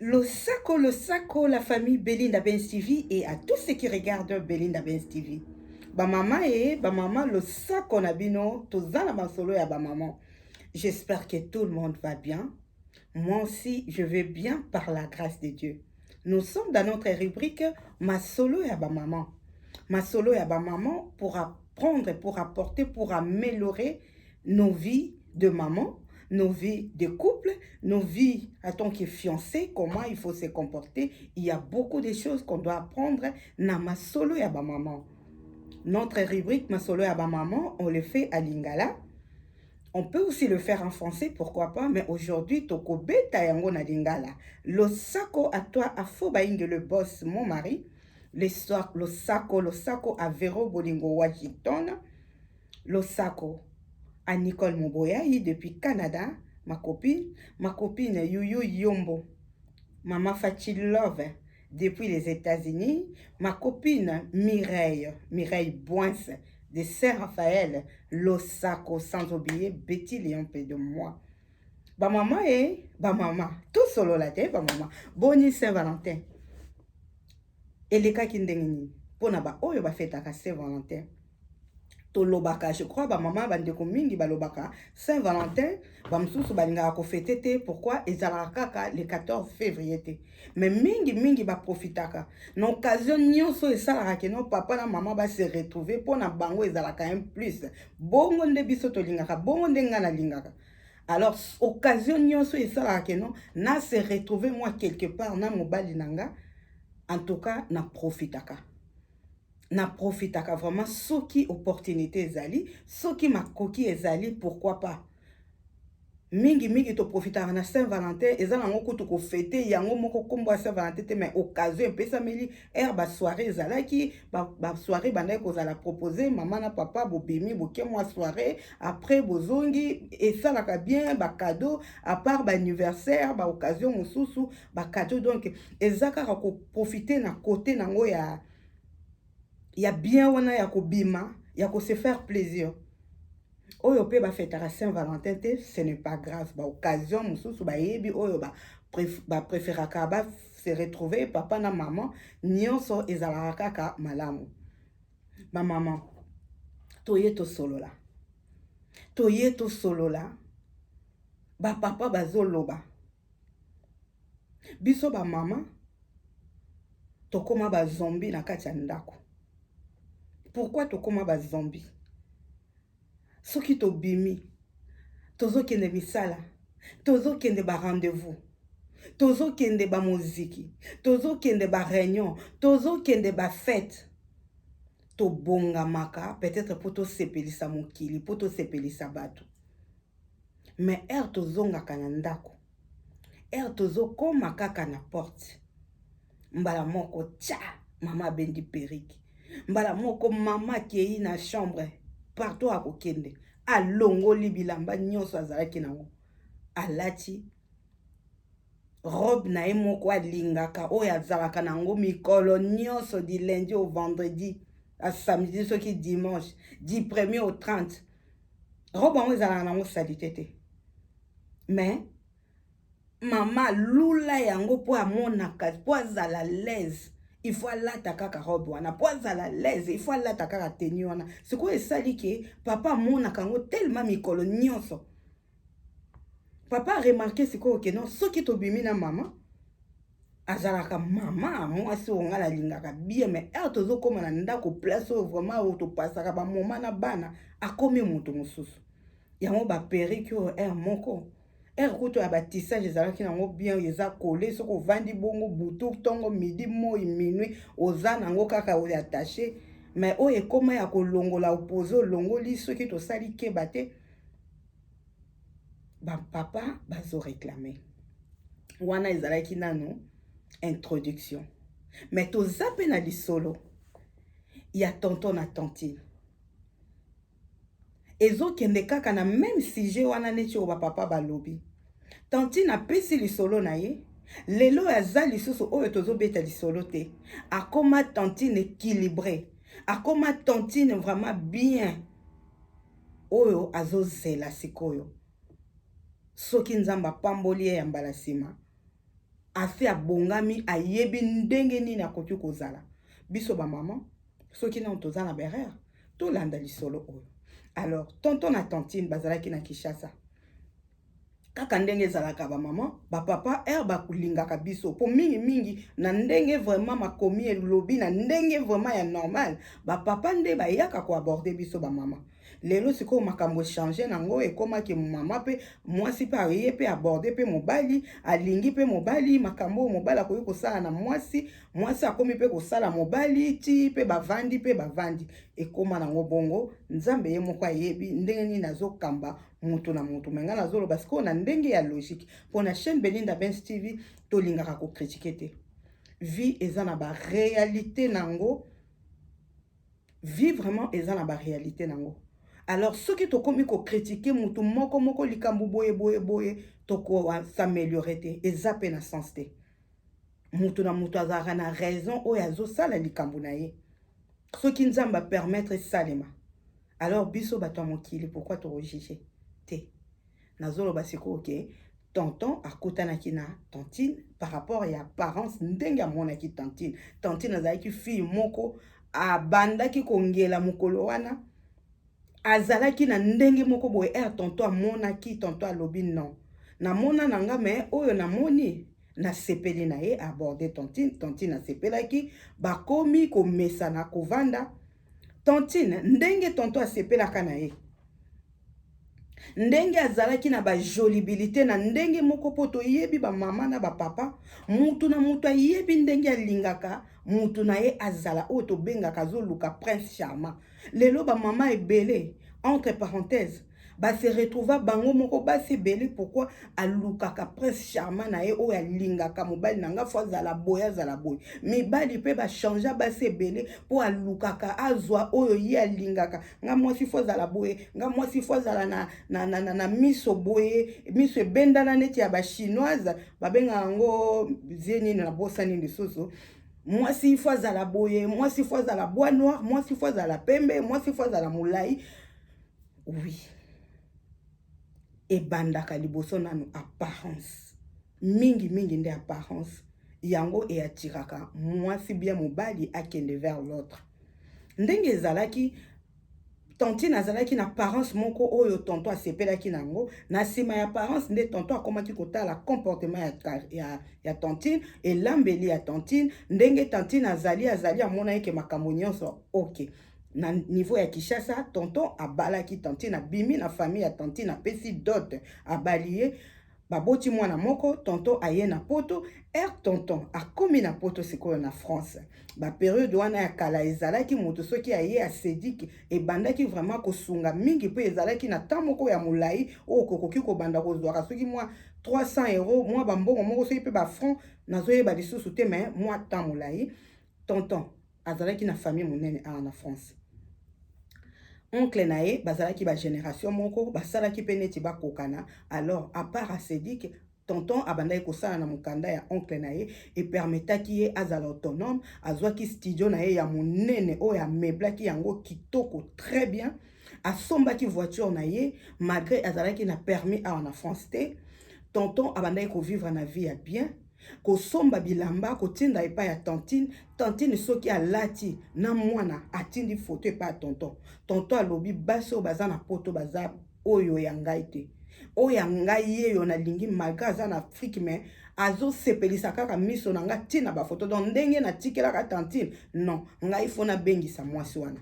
Losako, losako la famille Belinda Benz TV et à tous ceux qui regardent Belinda Benz TV. Ba maman et ba maman losako na bino toza na masolo ya ba maman. J'espère que tout le monde va bien. Moi aussi, je vais bien par la grâce de Dieu. Nous sommes dans notre rubrique Masolo ya ba maman. Masolo ya ba maman pour apprendre, pour apporter, pour améliorer nos vies de maman, nos vies de couple, nos vies en tant que fiancé, comment il faut se comporter. Il y a beaucoup de choses qu'on doit apprendre na masolo ya ba maman. Notre rubrique masolo ya ba maman, on le fait à lingala. On peut aussi le faire en français, pourquoi pas, mais aujourd'hui, toko beta yango na lingala. Losako à toi, à Fobaingue, le boss, mon mari. L'histoire, Losako, Losako, à Vero Bolingo Washington. Losako à Nicole Moboyayi depuis Canada ma copine, ma copine Youyou Yombo, maman Fatshi Love depuis les Etats-Unis, ma copine Mireille, Mireille Boinse de Saint Raphaël, Losako sans oublier Betty Léon près de moi. Ba maman et ba maman, tout solo la te ba maman. Boni Saint Valentin. Elekaki ndenge nini? Mpo na baoyo bafetaka Saint Valentin, tolobaka je crois bamama bandeko mingi balobaka Saint Valentin, bamosusu balingaka kofete te pourquoi ezalaka kaka le 14 février te, mais mingi mingi baprofitaka na occasion nyonso oyo esalaka keno papa na mama ba se retrouver, mpo na bango ezalaka un plus. Bongo nde biso tolingaka, bongo nde ngai nalingaka. alors occasion nyonso esalaka keno na se retrouver moi quelque part na mobali na nga en tout cas na profitaka na profitaka vraiment soki opportunité ezali soki makoki ezali pourquoi pas mingi mingi toprofitaka na saint valentin eza nango kutu kofete yango moko nkombo ya saint valentin te mais occasion epesameli ere basoire ezalaki basoire ba bandaki kozala propose mama na papa bobimi boke mwa soire après bozongi esalaka bien ba cadeau à part ba anniversaire ba occasion mosusu ba cadeau donc eza kaka ko profiter na côté nango ya ya bien wana ya kobima ya ko se faire plaisir oyo mpe bafetaka saint valentin te ce n'est pas grave ba occasion mosusu bayebi oyo ba bapréféraka ba se retrouver papa na maman nyonso ezalaka kaka malamu Ba maman, toye tosolola, toye tosolola. Ba papa bazoloba, biso ba maman tokoma ba zombie na kati ya ndako. Pourquoi tokoma ba zombie? Soki tobimi tozokende misala, tozokende ba rendez-vous, tozokende ba moziki, tozokende ba reunion, tozokende ba fete, tobongamaka peut-etre mpo tosepelisa mokili, mpo tosepelisa bato mais heure tozongaka na ndako, Heure tozo koma kaka na porte mbala moko tcha maman abendi perruque mbala moko maman akeyi na chambre partout akokende alongoli bilamba nionso azalaki nango alati robe na ye moko alingaka oyo azalaka nango mikolo nionso du lundi au vendredi à samedi soki dimanche du premier au 30 robe yango ezalaka nango salite te mais mama alula yango mpo amonaka mpo azala laise il faut alata kaka robe wana mpo azala laise il faut alata kaka teni wana sikoyo esali ke papa amonaka yango telema mikolo nyonso Papa remarquer sikoyo que non soki tobimi na mama azalaka mama mwasi oyo ngai nalingaka bien mais heure tozokóma na ndako place oyo vraiment oyo topasaka bamoma na bana akomi moto mosusu yango baperiki oyo heure moko heure kutu ya batissage ezalaki nango bien eza kole soki ovandi bongo butu ntongo midi moi minui oza nango kaka oyo attache mais oyo ekóma ya kolongola opose olongoli soki tosali keba te ba papa bazo reclame wana ezalaki nanu introduction mais toza mpe na lisolo ya tonton na tantine ezokende kaka na meme sujet wana neti oyo bapapa balobi tantine apesi lisolo na ye lelo oyo aza lisusu oyo tozobeta lisolo te akoma tantine équilibre akoma tantine vraiment bien oyo azo zela sikoyo soki nzambe apamboli ye ya mbala sima asi abongami ayebi ndenge nini akoki kozala biso ba maman soki nano toza na berere tolanda lisolo oyo alors tonton na tantine bazalaki na kishasa kaka ndenge ezalaka ba maman ba papa heure bakolingaka biso mpo mingimingi na ndenge vraiment makomi elobi na ndenge vraiment ya normal ba papa nde bayaka koaborde biso ba mama lelo sikoyo makambo echange nango ekomaki mama mpe mwasi mpe aye mpe aborde mpe mobali alingi mpe mobali makambo oyo mobali akoki kosala na mwasi mwasi akomi mpe kosala mobali ti mpe bavandi mpe bavandi ekoma nango bongo nzambe ye moko ayebi ndenge nini azokamba moto na moto me ngai nazoloba sikoyo na ndenge ya logique mpo na chaîne belinda bens tv tolingaka kokritike te vie eza na baréalité na yango vie vraiment eza na baréalité na yango alors soki tokomi kokritike motu moko moko likambo boye boye boye tokosameliore te eza mpe na sens te moto na moto azalaka na raison oyo azosala likambo na ye soki nzambe apermettre esalema alors biso bato ya mokili pourkui tokojuge te nazoloba sikoyo ke tonton akutanaki na tantine par rapport ya apparence ndenge amonaki tantine tantine azalaki fille moko abandaki kongela mokolo wana Azalaki na ndenge moko boye ere tonto amonaki tonto alobi non namona na nga me oyo namoni nasepeli na ye aborde tontine tontine asepelaki bakomi komesana kovanda tontine ndenge tonto asepelaka na ye ndenge azalaki na bajolibilité na ndenge moko mpo toyebi bamama na bapapa mutu na moto ayebi ndenge alingaka mutu na ye azala oyo tobengaka azoluka prince charmant lelo ba mama ebele entre parenthèse ba se retrouva bango moko basi ebele pourquoi alukaka prince charmant na ye oyo alingaka mobali na nga fo azala boye azala boye mibali mpe bachangea basi ebele mpo alukaka azwa oyo ye alingaka nga mwasi fo azala boye nga mwasi fo azala na, na, na, na, na miso boye miso ebendana neti ya bachinoise babengaka yango zie nini nabosani lisusu mwasi ifo azala boye mwasi ifo azala bois noir mwasi ifo azala pembe mwasi ifo azala molai oui ebandaka liboso nanu apparence mingi mingi nde apparence yango eatiraka mwasi bia mobali akende vers l'autre ndenge ezalaki Tantine azalaki n'apparence moko oyo tonton asepelaki nango, na sima y'apparence nde tonton akomaki kotala comportement ya ya tantine, elambeli ya tantine, ndenge tantine azali azali amonaki ke makambo nionso ok. Na niveau ya Kinshasa tonton abalaki tantine abimi na famille ya tantine apesi dot abali ye, Baboti mwana moko, tonton aye na poto, heure tonton akomi na poto sikoyo na France. Ba periode wana ya kala ezalaki mutu soki aye a Cedic ebandaki vraiment kosunga mingi po ezalaki na temps moko ya mulayi oyo kokoki kobanda kozuaka soki mua 300 euros mua ba mbongo moko soki pe ba francs nazoyeba lisusu te mais mua temps mulayi tonton azalaki na famille monene awa na france oncle na ye bazalaki ba generation moko basalaki mpe neti bakokana alors apart asedik tonton abandaki kosala na mokanda ya oncle na ye epermetaki ye azala autonome azwaki studio na ye ya monene oyo ameblaki yango kitoko très bien asombaki voiture na ye malgré azalaki na permis awa na france te tonton abandaki kovivre na vie ya bien kosomba bilamba kotinda epai ya tantine tantine soki alati na mwana atindi foto epai ya tonton tonton alobi basi oyo baza na poto baza oyo ya ngai te oyo ya ngai yeyo nalingi malgre aza na afrike me azosepelisa kaka miso na ngai ntina bafoto don ndenge natikelaka tantine non ngai fo nabengisa mwasi wana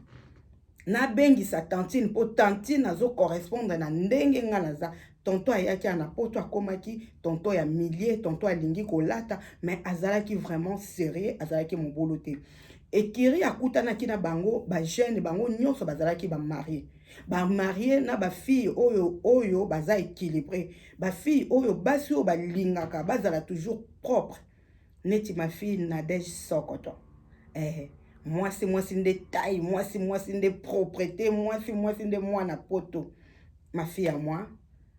nabengisa tantine mpo tantine azo correspondre na ndenge ngai naza tonto ayaki awa na poto akomaki tonto ya milie tonto alingi kolata mais azalaki vraiment serieux azalaki mobulu te ekiri akutanaki na bango bajeune bango nyonso bazalaki bamarie bamarie na bafille oyo oyo baza équilibré bafille oyo basi oyo balingaka bazala toujours propre neti ma fille Nadège Sokoto eh mwasi mwasi nde taille mwasi mwasi nde proprete mwasi mwasi nde mwana poto ma fille à moi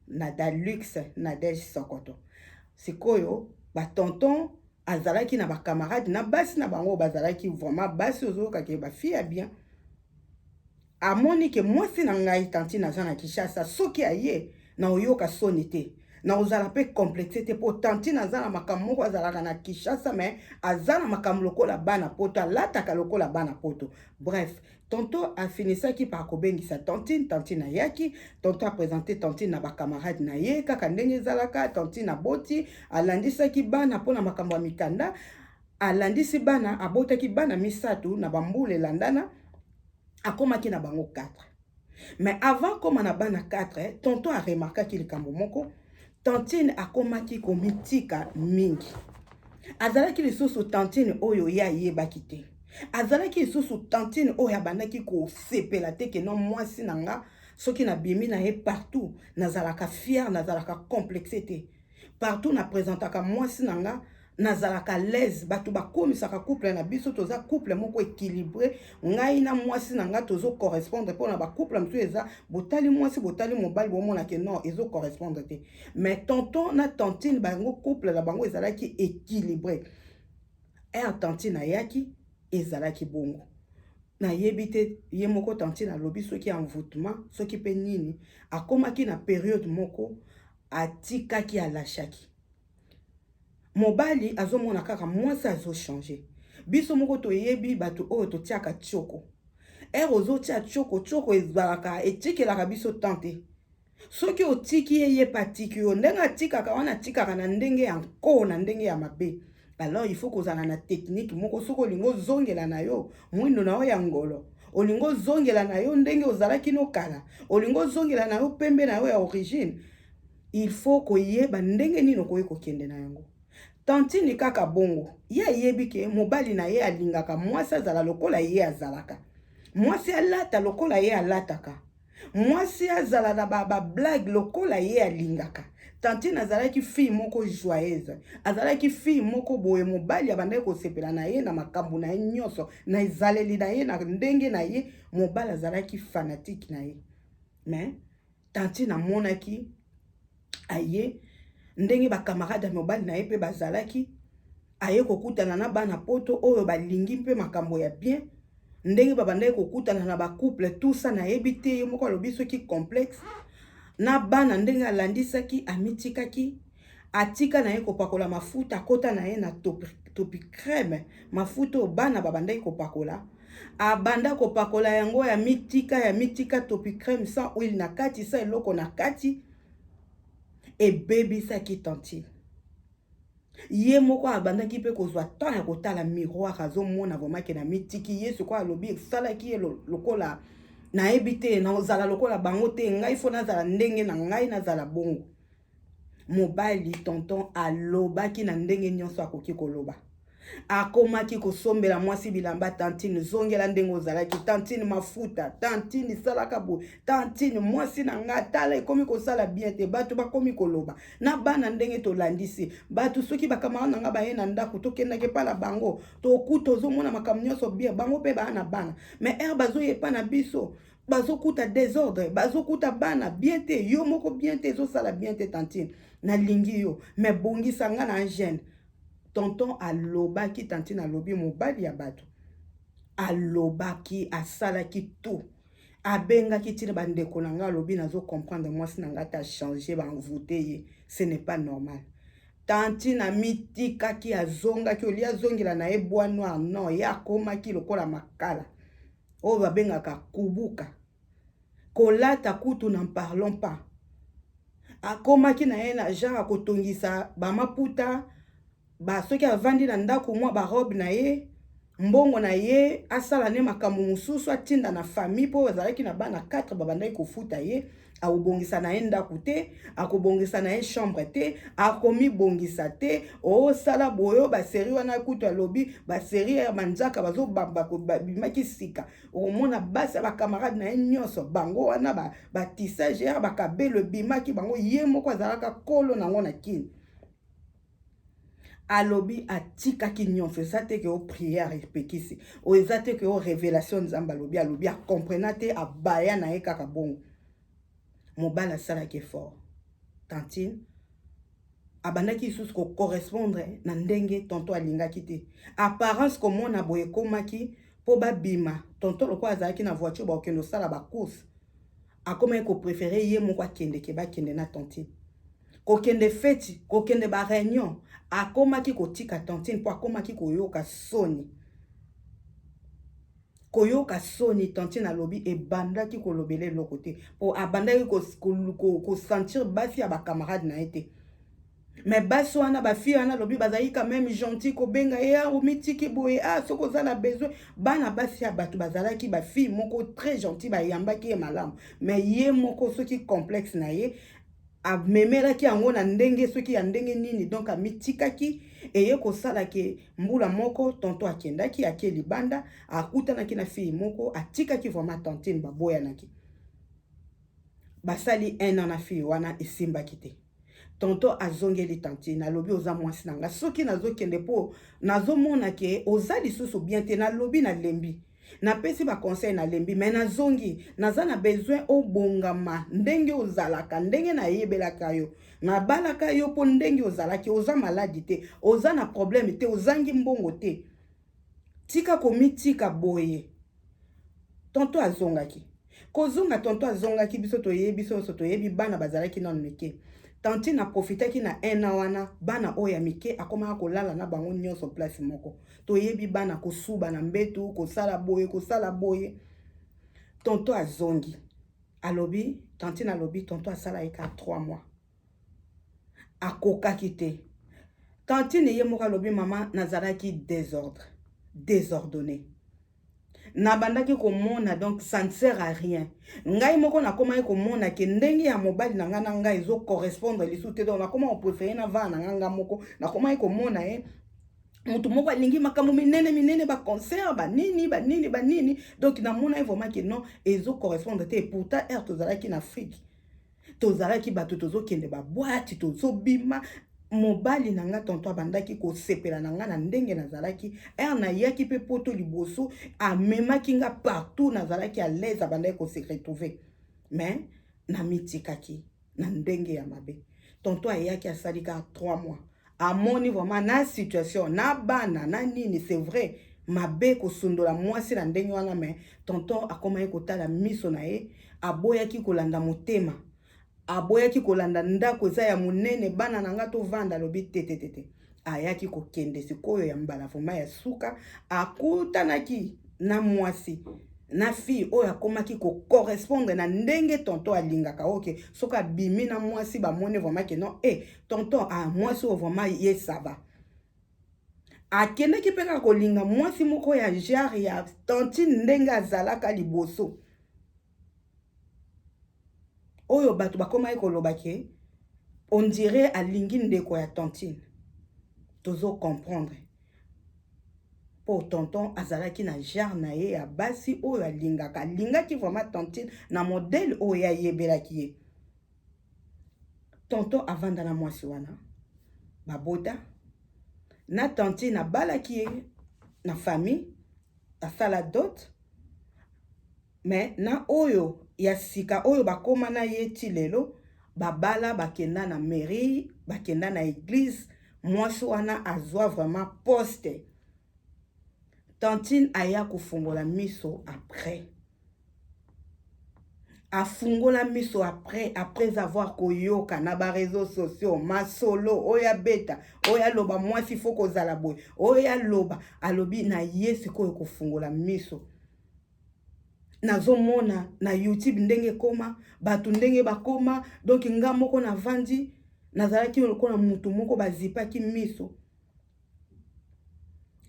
Nada Luxe Nadège Sokoto sikoyo ba tonton azalaki na ba camarade na basi na bango bazalaki vraiment basi ozoyoka ke ba fille ya bien Amoni ke mwasi na ngai tantine aza na Kinshasa soki aye naoyoka soni te naozala pe complexe te po tantine aza na makambo moko azalaka na Kinshasa mais aza na makambo lokola bana poto alataka lokola bana poto bref tonton afinisaki par kobengisa tantine tantine ayaki tonton apresente tantine na bacamarade na ye kaka ndenge ezalaka tantine aboti alandisaki bana mpo na makambo ya mikanda alandisi bana abotaki bana misato na bambula elandana akomaki na bango 4 mais avant akoma na bana 4 tonton aremarkaki likambo moko tantine akomaki komitika mingi azalaki lisusu tantine oyo ye ayebaki te azalaki lisusu tantine oyo abandaki kosepela te keno mwasi na nga soki nabimi na ye partout nazalaka fiere nazalaka complexe te partout na présentaka mwasi na nga nazalaka à l'aise bato bakomisaka couple na biso toza couple moko équilibré ngai na mwasi na ngai tozo correspondre mpo na bacouple mosusu eza botali mwasi botali mobali bomona ke non ezo correspondre te mais tonton na tantine bango couple na bango ezalaki équilibré er tantine ayaki ezalaki bongo nayebi te ye moko tantine alobi soki envoûtement soki mpe nini akomaki na periode moko atikaki alashaki Mobali azo mona kaka mwasi azo changer. Biso moko toyebi batu oyo totiaka tshoko. Heure ozo tia tshoko, tshoko ezalaka etikelaka biso temps te. Soki otiki ye, ye pe atiki yo. Ndenge atikaka wana atikaka na ndenge ya nko, na ndenge ya mabe. Alors il faut kozala na technique moko soki olingi ozongela na yo mwindo na yo ya ngolo. Olingi ozongela na yo ndenge ozalaki no kala. Olingi ozongela na yo pembe na yo ya origine. Il faut koyeba ndenge nini okoki kokende na yango. Tantine kaka bongo, ye ayebi ke mobali na ye alingaka mwasi azala lokola ye azalaka, mwasi alata lokola ye alataka, mwasi azala na ba, ba blague lokola ye alingaka. Tantine azalaki fille moko joyeuse, azalaki fille moko boye, mobali abandaki kosepela na ye na makambo na ye nyonso, na ezaleli na ye, na ndenge na ye, mobali azalaki fanatique na ye. Mais, tantine amonaki aye ndenge bakamarade ya mobali na ye mpe bazalaki aye kokutana na bana poto oyo balingi mpe makambo ya bien ndenge babandaki kokutana na bacouple tusa nayebi te ye moko alobi soki complexe na bana ndenge alandisaki amitikaki Atika naye kopakola mafuta akota naye na topicreme mafuta oyo bana babandaki kopakola abanda kopakola yango ya mitika ya mitika topicreme sans huile na kati sa eloko na kati ebebisaki tantine ye moko abandaki mpe kozwa temps ya kotala miroir azomona vremake na mitiki ye sikoyo alobi esalaki ye lokola nayebi te naozala lokola bango te ngai fo nazala ndenge na ngai nazala bongo Mobali tonton alobaki na ndenge nionso akoki koloba. Akomaki kosombela mwasi bilamba tantine zongela ndenge ozalaki tantine mafuta tantine salaka boye tantine mwasi na nga tala ekomi kosala bien te bato bakomi koloba na bana ndenge tolandisi bato soki bakamara na nga baye na ndako tokendaki epa na bango tokuta ozomona makambo nyonso bien bango mpe baa na bana mais ere bazoya epa na biso bazokuta desordre bazokuta bana bien te yo moko bien te ezosala bien te tantine nalingi yo me bongisa nga na angene tonton alobaki tantine alobi mobali ya bato alobaki asalaki tout abengaki ntina bandeko na ngai alobi nazo comprendre mwasi na ngai ata change banvoute ye ce n'est pas normal tantine amitikaki azongaki olie azongela na ye bois noir non ye akomaki lokola makala oyo babengaka kubuka kolata kutu na parlons pas akomaki na ye na genre ya kotongisa bamaputa ba soki avandi na ndako mwa barobe na ye mbongo na ye asala nde makambo mosusu atinda na famille mpo azalaki na bana 4 babandaki kofuta ye akobongisa na ye ndako te akobongisa na ye chambre te akomibongisa te osala boyo baseri wana kutu alobi baseri ya manzaka bazobimaki sika okomona basi ya bakamarade na ye nyonso bango wana batisage ya bakabelo ebimaki bango ye moko azalaka kolo nango na kini alobi atikaki nyonso eza te ke o prière epekisi oyo eza te ke o révélation nzambe alobi alobi acomprena te abaya na ye kaka bongo mobali asalaki effort tantine abandaki lisusu kocorrespondre na ndenge tonto alingaki te apparence komona boye ekomaki mpo babima tonto lokola azalaki na voiture bakokende kosala bacourse akomaki ko prefere ye moko akende ke bakende na tantine kokende feti kokende ba reunion akomaki kotika tantine mpo akomaki koyoka soni koyoka soni tantine alobi ebandaki kolobela eloko te mpo abandaki kosentir basi ya bacamarade na ye te mais basi wana ba fille wana lobi bazali quand même gentil kobenga ye ah, omitiki boye ah soki oza na besoin bana basi ya bato bazalaki ba fille moko très gentil bayambaki ye malamu mais ye moko soki complexe na ye amemelaki yango na ndenge soki ya ndenge nini donc amitikaki eye kosala ke mbula moko tonto akendaki ake libanda akutanaki na fille moko atikaki vraiment tantine baboyanaki basali un an na fille wana esimbaki te Tonton azongeli tantine alobi oza mwasi na nga soki nazokende mpo nazomona ke oza lisusu bien te nalobi nalembi napesi ba conseil nalembi me nazongi naza na besoin obongama ndenge ozalaka ndenge nayebelaka yo nabalaka yo mpo ndenge ozalaki oza maladi te oza na problème te ozangi mbongo te Tika komitika boye. Tonton azongaki. Kozonga tonton azongaki biso toyebi biso nyonso toyebi bana bazalaki nanu mike. Tantine aprofitaki na un an wana bana oyo ya mike akomaka kolala na bango nyonso place moko. Toyebi bana kosuba na mbetu, kosala boye, kosala boye. Tonton azongi. Alobi, tantine alobi tonton asala ye kaka 3 mois. akokaki te tantine ye moko alobi mama nazalaki desordre desordonne nabandaki komona donc ça ne sert à rien ngai moko nakomaki komona ke ndenge ya mobali na ngai na ngai ezo correspondre lisusu te donc nakoma koprefere na vana na ngai ngai moko nakomaki komona ye eh, motu moko alingi makambo minene minene baconcert banini banini banini donc namonaki vraiment ke non ezo correspondre te pourtant heure tozalaki na afrique tozalaki bato tozokende babwati tozobima mobali na nga tonto abandaki kosepela na nga na ndenge nazalaki ere nayaki mpe poto liboso amemaki nga partout nazalaki alaise abandaki kose retrouve mais namitikaki na ndenge ya mabe tonto ayaki asali kaka 3 mois amoni vraiment na situation na bana na nini c'est vrai mabe kosundola mwasi na ndenge wana me tonton akomaki kotala miso na ye aboyaki kolanda motema aboyaki kolanda ndako eza ya monene bana na nga tovanda alobi tetetete ayaki kokende sikoyo ya mbala vraimen ya suka akutanaki na mwasi na fille oyo akomaki kocorrespondre na ndenge tonto alingaka oke soki abimi na mwasi bamoni vraimen ke non e eh, tonton ah mwasi oyo vraiment ye sava akendaki mpe kaka kolinga mwasi moko ya genre ya tantine ndenge azalaka liboso oyo bato bakomaki koloba ke ondire alingi ndeko ya tantine tozo comprendre mpo tonton azalaki na genre na ye ya basi oyo alingaka alingaki vraiment tantine na modele oyo ye ayebelaki ye tonton avanda na mwasi wana babota na tantine abalaki ye na famille asala dot me na oyo ya sika oyo bakoma na ye ti lelo babala bakenda na mairie bakenda na eglise mwasi wana azwa vraiment poste tantine aya kofungola miso après afungola miso après après avoir koyoka na ba réseaux sociaux masolo oyo abeta oyo aloba mwasi fo kozala boye oyo aloba alobi na ye sikoyo kofungola miso nazomona na youtube ndenge ekoma bato ndenge bakoma donk nga moko navandi nazalaki lokola motu moko bazipaki miso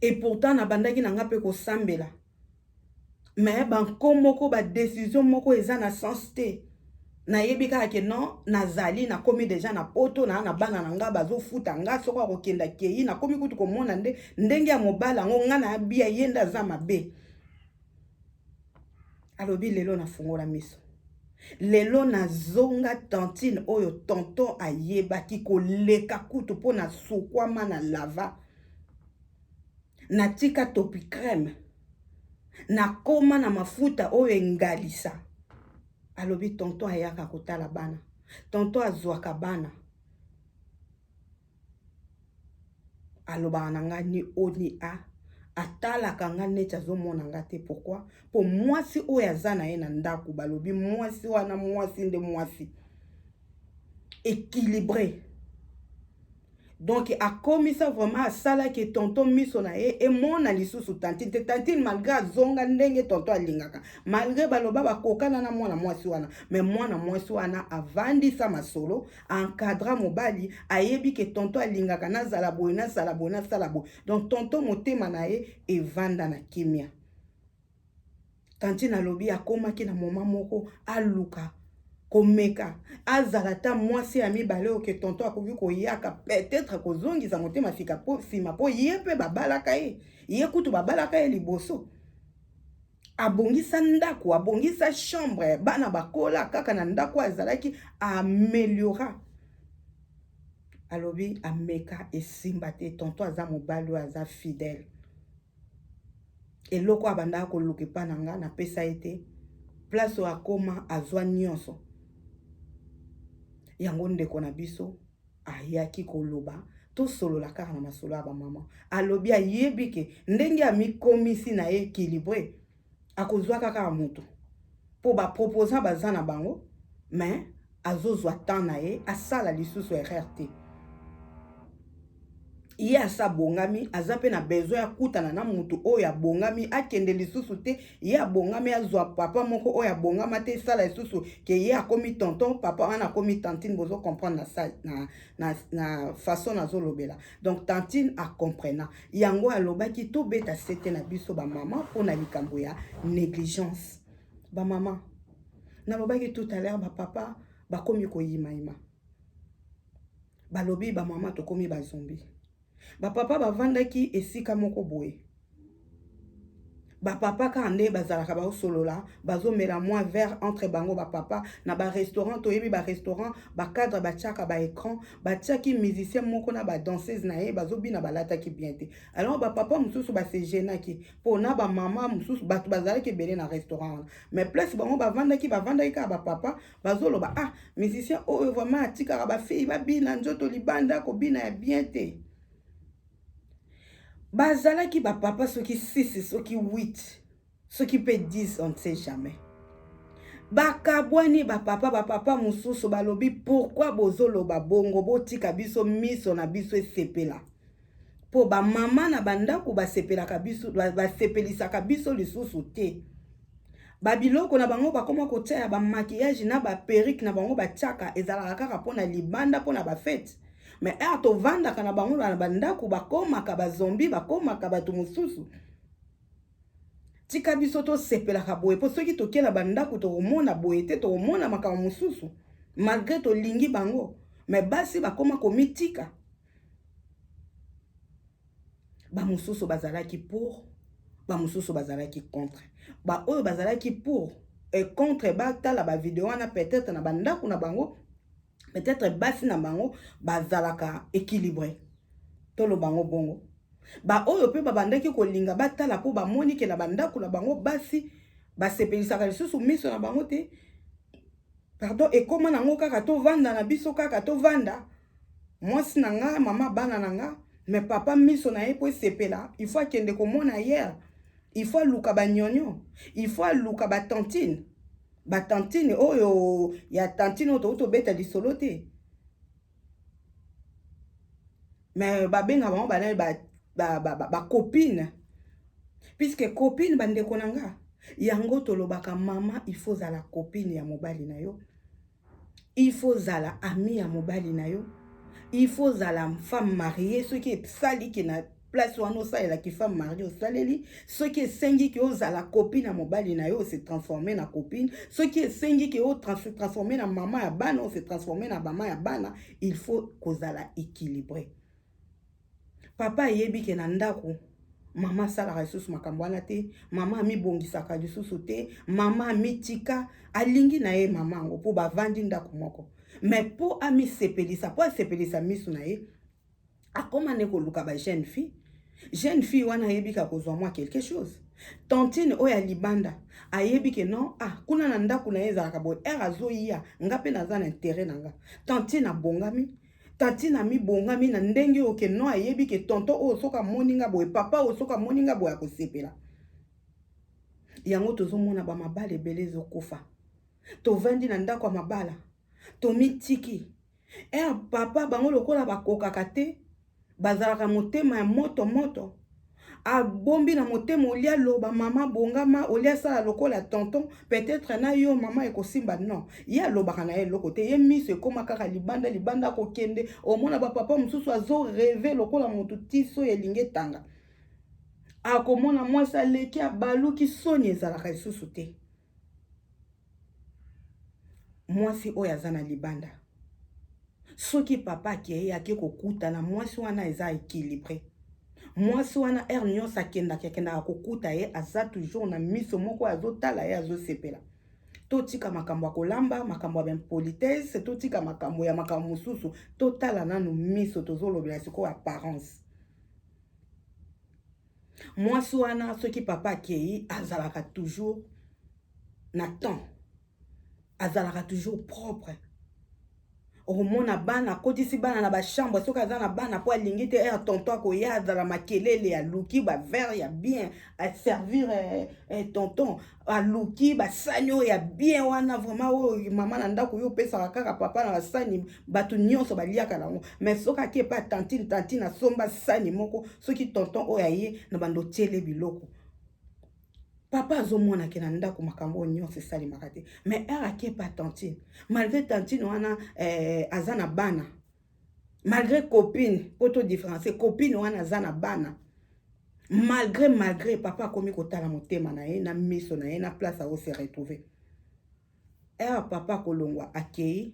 Et pourtant na bandaki na nga pe ko sambela mais ba nko moko ba decision moko eza na sens te na yebi kaka ke non na zali na komi deja na poto na na bana na nga bazo futa nga soko ako kenda keyi na komi kutu ko mona nde ndenge ya mobali yango nga na ya bia ye nde aza mabe alobi lelo nafungola miso lelo nazonga tantine oyo tonton ayebaki koleka kutu mpo na sukwama na lava natika topi creme nakoma na mafuta oyo engalisa alobi tonton ayaka kotala bana tonton azwaka bana alobaka na ngai ni o ni a atalaka nga neti azomona nga te pourkui mpo mwasi oyo aza na ye na ndako balobi mwasi wana mwasi nde mwasi équilibré donk akomisa vraiment asalaki tonton miso na ye emona lisusu tantine te tantine malgré azonga ndenge tonton alingaka malgré baloba bakokana na mwana mwasi wana me mwana mwasi wana avandisa masolo encadra mobali ayebi ke tonto alingaka nazala boye nasala boye nasala boye donc tonto motema na ye evanda na kimia tantine alobi akomaki na moma moko aluka komeka azala ata mwasi ya mibale oyo ke tonto akoki koyaka peut-être akozongisa motema sika po nsima mpo ye mpe babalaka ye ye kutu babalaka ye liboso abongisa ndako abongisa chambre bana bakola kaka na ndako azalaki ameliora alobi ameka esimba te tonto aza mobali oyo aza fidèle eloko abandaka koluka epa na nga napesa ye te place oyo akoma azwa nyonso yango ndeko na biso Ayaki koloba tosolola kaka na masolo ya ba maman. Alobi ayebi ke ndenge amikomisi na ye equilibre akozuaka kaka mutu po ba proposant baza na bango mais azozua temps na ye asala lisusu erreur te. ye asi abongami aza mpe na besoin akutana na motu oyo abongami akende lisusu te ye abongami azwa papa moko oyo abongama te esala lisusu ke ye akomi tonton papa wana akomi tantine bozo comprendre na, na, na, na façon nazolobela donc tantine acomprena yango alobaki tobeta sete na biso bamama mpo na likambo ya négligence bamama nalobaki tout à l'heure bapapa bakomi koyimayima Balobi ba mama tokomi ba zombie. Ba papa bavandaki esika moko boye. Ba papa kaka nde bazalaka baosolola, bazomela mwa verre entre bango ba papa na ba restaurant toyebi ba restaurant ba cadre batiaka ba ecran batiaki musicien moko na ba danseuse na ye bazobina balataki bien te. Alors ba papa mosusu ba se genaki mpo na ba mama mosusu bato bazalaki ebele na restaurant wana mais place bango bavandaki bavandaki kaka ba papa bazoloba ah musicien oyo vraiment atikaka bafei babina nzoto libanda kobina ya bien te bazalaki bapapa soki 6 soki 8 soki mpe 10 on ne sait jamais bakabwani bapapa bapapa mosusu balobi pourkui bozoloba bongo botika biso miso na biso esepela mpo bamama na bandako basepelaka biso basepelisaka biso lisusu te Ba biloko na bango bakoma kotia ya ba maquillage na ba perruque na bango batiaka ezalaka kaka mpo na libanda mpo na ba fete mais heure tovandaka na bango na bandako bakomaka ba zombi bakomaka bato mosusu tika biso tosepelaka boye mpo soki tokei na bandako tokomona boye te tokomona makambo mosusu malgre tolingi bango me basi bakoma komitika bamosusu bazalaki pour bamosusu bazalaki contre baoyo bazalaki pour e contre batala bavideo wana peut-être na bandako na bango peut-être basi na bango bazalaka équilibre toloba yango bongo baoyo mpe babandaki kolinga batala mpo bamoni ke na bandako na bango basi basepelisaka lisusu miso na bango te pardon ekóma nango kaka tovanda na biso kaka tovanda mwasi na nga mama bana na nga me papa miso na ye mpo esepela il faut akende komona yere il faut aluka banyonyo il faut aluka batantine batantine oyo ya tantine oyo touti obeta lisolo te me babenga bango bana bacopine ba, ba, ba puiske copine bandeko na nga yango tolobaka mama il faut ozala copine ya mobali na yo il faut ozala ami ya mobali na yo il faut ozala femme marie soki esali ke na place wana osalela ki femme marie osaleli soki esengi ke ozala copine ya mobali na yo ose transforme na copine soki esengi ke otrans transforme na mama ya bana ose transforme na mama ya bana il faut kozala équilibre Papa ayebi ke na ndako mama asalaka lisusu makambo wana te mama amibongisaka lisusu te mama amitika alingi na ye mama yango mpo bavandi ndako moko me mpo amisepelisa mpo asepelisa miso na ye akoma nde koluka ba jeune fille jeune fille wana ayebi ka kozwa mwa quelque chose tantine oyo ya libanda ayebi ke non ah kuna na ndako na ye ezalaka boye ere azoya nga mpe naza na intere na nga tantine abongami Tantine amibongami na ndenge oyo ke non ayebi ke tonton oyo soki amoni nga boye papa oyo soki amoni nga boye akosepela yango tozomona bamabala ebele ezokufa tovandi na ndako ya mabala tomitiki er papa bango lokola bakokaka te bazalaka motema ya moto moto abombi na motema olia loba mama bongama olia sala lokola tonton peut-être na yo mama ekosimba non ye alobaka na ye eloko te ye miso ekoma kaka libanda libanda akokende omona bapapa mosusu azo reve lokola motu tiso ya elingi etanga akomona mwasi aleki abaluki soni ezalaka lisusu te Mwasi oyo aza na libanda soki papa akei ake kokuta na mwasi wana eza equilibre mwasi wana heure nyonso akendaka akendaka kokuta ye aza toujours na miso moko azotala ye azosepela totika makambo ya kolamba makambo ya baimpolitesse totika makambo ya makambo mosusu totala nanu miso tozolobela sikoyo apparence Mwasi wana soki papa akeyi azalaka toujours na temps azalaka toujours propre okomona bana akotisi bana na bachambre soki aza na bana mpo alingi te ere tonton akoya azala makelele aluki bavere ya bien aservire eh, eh, tonton aluki basani oyo ya bien wana vraimen oyo mama na ndako yo opesaka kaka papa na basani bato nyonso baliaka yango mai soki ake epa tantine tantine asomba sani moko soki tonton oyo aye na bando otyele biloko papa azomona ke na ndako makambo oyo nyonso esalemaka te mais heure akepa tantine malgré tantine wana eh, aza na bana malgré copine mpo to différencie copine wana aza na bana malgré malgré papa akomi kotala motema na ye na miso na ye na place ako se retrouver heure papa akolongwa akei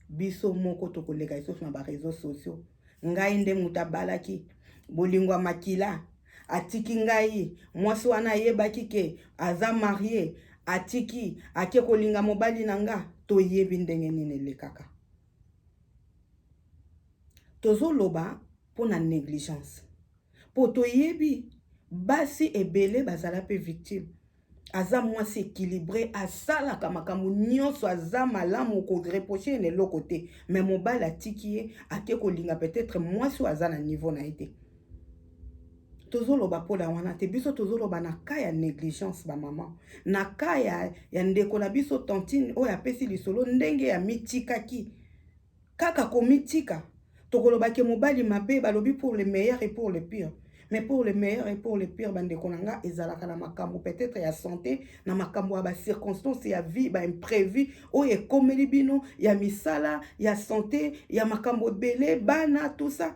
Biso moko tokoleka lisusu na ba reseaux sociaux. Ngai nde moto abalaki bolingo ya makila atiki ngai mwasi wana ayebaki ke aza marie atiki ake kolinga mobali na nga toyebi ndenge nini elekaka tozoloba mpo na negligence po toyebi basi ebele bazala pe victime aza mwasi equilibre asalaka makambo nyonso aza malamu okoreproche ye na eloko te me mobali atiki ye ake kolinga peut-être mwasi oyo aza na niveau na ye te tozoloba mpo na wana te biso tozoloba na ka ya negligence bamama na ka ya, ya ndeko na biso tantine oyo apesi lisolo ndenge ya mitikaki Kaka komitika, tokoloba ke mobali mabe, balobi pour le meilleur et pour le pire, mais pour le meilleur et pour le pire ba ndeko na nga ezalaka na makambu peut etre ya sante, na makambu ya ba circonstances ya vie, ba imprevu oyo ekomeli bino, ya misala, ya sante, ya makambu ebele, bana tout ça.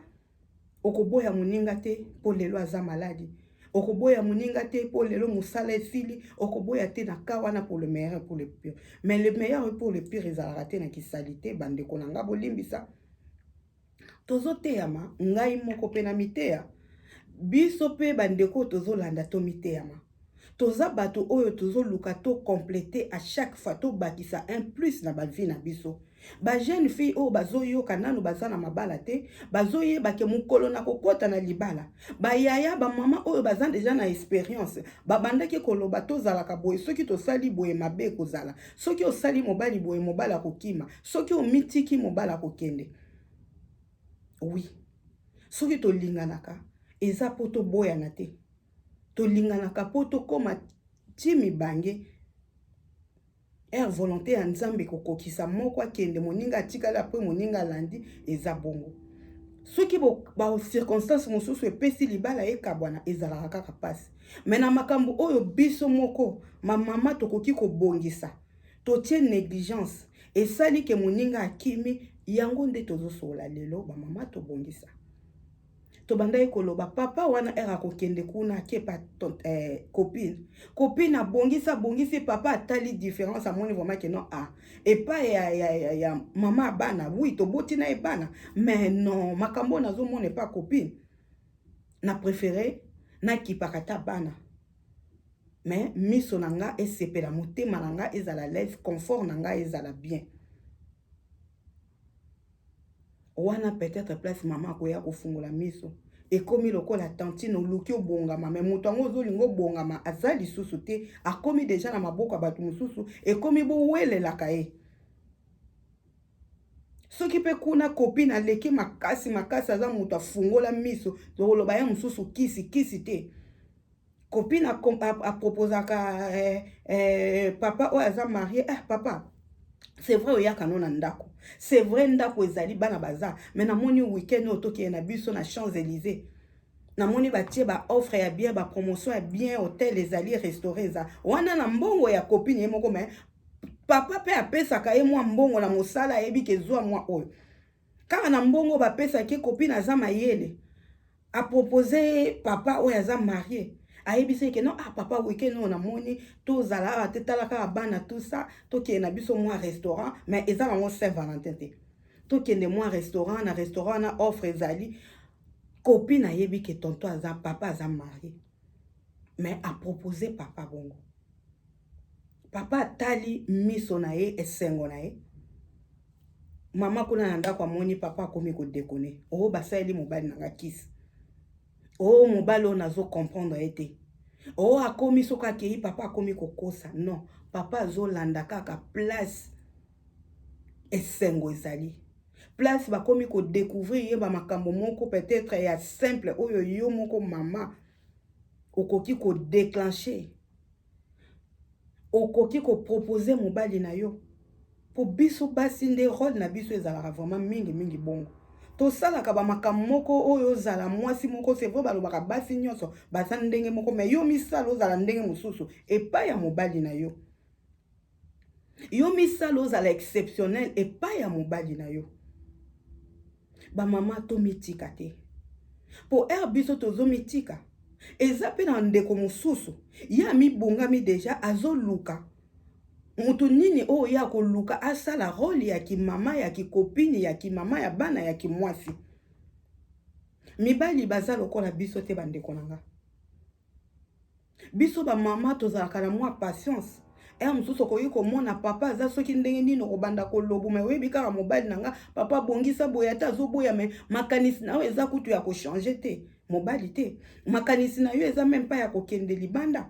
Okoboya moninga te mpo lelo aza maladi. Okoboya moninga te mpo lelo mosala esili. Okoboya te na cas wana pour le meilleur et pour le pire. Mais le meilleur et pour le pire ezalaka te na ki salite ba ndeko na nga bolimbisa. Tozo teyama ngai moko pe na miteya. Biso pe ba ndeko oyo tozo landa to miteyama. Toza batu oyo tozo luka to completer a chaque fois to bakisa un plus na ba vie na biso. Ba jeune fille oyo bazo yoka nanu baza na mabala te bazo yeba ke mukolo na ko kota na libala ba yaya ba maman oyo baza dejà na experience ba bandaki ko loba to zalaka boye soki to sali boye mabe eko zala soki osali mobali boye mobali ako kima soki omi tiki mobali ako kende oui soki to linganaka eza po to boyana te. Tolinganaka mpo tokoma ti mibange ere volonte ya Nzambe kokokisa moko akende moninga atikali apres moninga alandi eza bongo. Soki ba circonstance mosusu epesi libala ekabwana ezalaka kaka pasi me na makambo oyo biso moko ma mama tokoki kobongisa totie negligence esali ke moninga akimi yango nde tozosolola lelo ba mama tobongisa. tobandaki koloba papa wana ere akokende kuna akepa eh, copine copine abongisi abongisi papa atali différence amoni vraiment ke non ah, epai ya, ya, ya, ya mama ya bana wi toboti na ye bana mais non makambo oyo nazomona epai copine na préféré nakipaka ata bana mais miso na nga esepela motema na nga ezala leve confort na nga ezala bien Wana peut etre place maman akoya kofungola miso. Ekomi lokola tantine oluki obongama mais moto yango ozolinga obongama aza lisusu te akomi deja na maboko ya bato mosusu ekomi bowelelaka ye soki mpe kuna copine aleki makasi makasi aza moto afungola miso tokoloba ye mosusu kisi kisi te Copine a, a, a proposaka eh, eh, papa oyo aza marie eh, papa c'est vrai oyaka no na ndako c'est vrai ndako ezali bana baza mais namoni week-end oyo tokeye na biso na champs élysées namoni batie baoffre ya bien bapromotion ya bien hotel ezali restauré eza wana na mbongo ya copine ye moko mais papa mpe apesaka ye mwa mbongo na mosala ayebi ke zwa mwa oyo kaka na mbongo bapesaki copine aza mayele A proposer ye papa oyo aza marie. Ayebisa ye que non ah papa week-end oyo na moni to zala awa te tala kaka bana tout ça to kende na biso mua restaurant mais eza nango Saint Valentin te. To kende mua restaurant na restaurant wana offre ezali copine ayebi que tonton aza papa aza marie mais a proposer papa bongo. Papa atali miso na ye esengo na ye. Mama kuna na ndako amoni papa akomi ko dekone. Oh basaleli mobali na nga kisi. Oh mobali oyo nazo comprendre ye te. Oh akomi soki akeyi papa akomi kokosa. Non, papa azolanda kaka place esengo ezali. Place bakomi ko découvrir ye ba makambo moko peut-être ya simple oyo yo moko mama okoki ko déclencher Okoki ko proposer mobali na yo? Po biso basi nde role na biso ezalaka vraiment mingi mingi bongo. Tosalaka ba makambo moko oyo ozala mwasi moko, c'est vrai balobaka basi nionso baza ndenge moko mais yo omisala ozala ndenge mosusu epayi ya mobali na yo. Yo misala ozala exceptionnel epai ya mobali na yo. Ba mama to mitika te. Po heure biso tozo mitika eza pe na ndeko mosusu ye amibongami deja azoluka moto nini oyo ye akoluka asala role ya kimama ya kikopini ya kimama ya bana ya kimwasi mibali baza lokola biso te bandeko na nga Biso ba mama tozalaka na mwa patience heure mosusu okoki komona papa aza soki ndenge nini okobanda kolobo mai oyebi kaka mobali na nga papa abongisa boye ata azoboya mai makanisi na yo eza kutu ya kochange te mobali te makanisi na yo eza meme mpa ya kokende libanda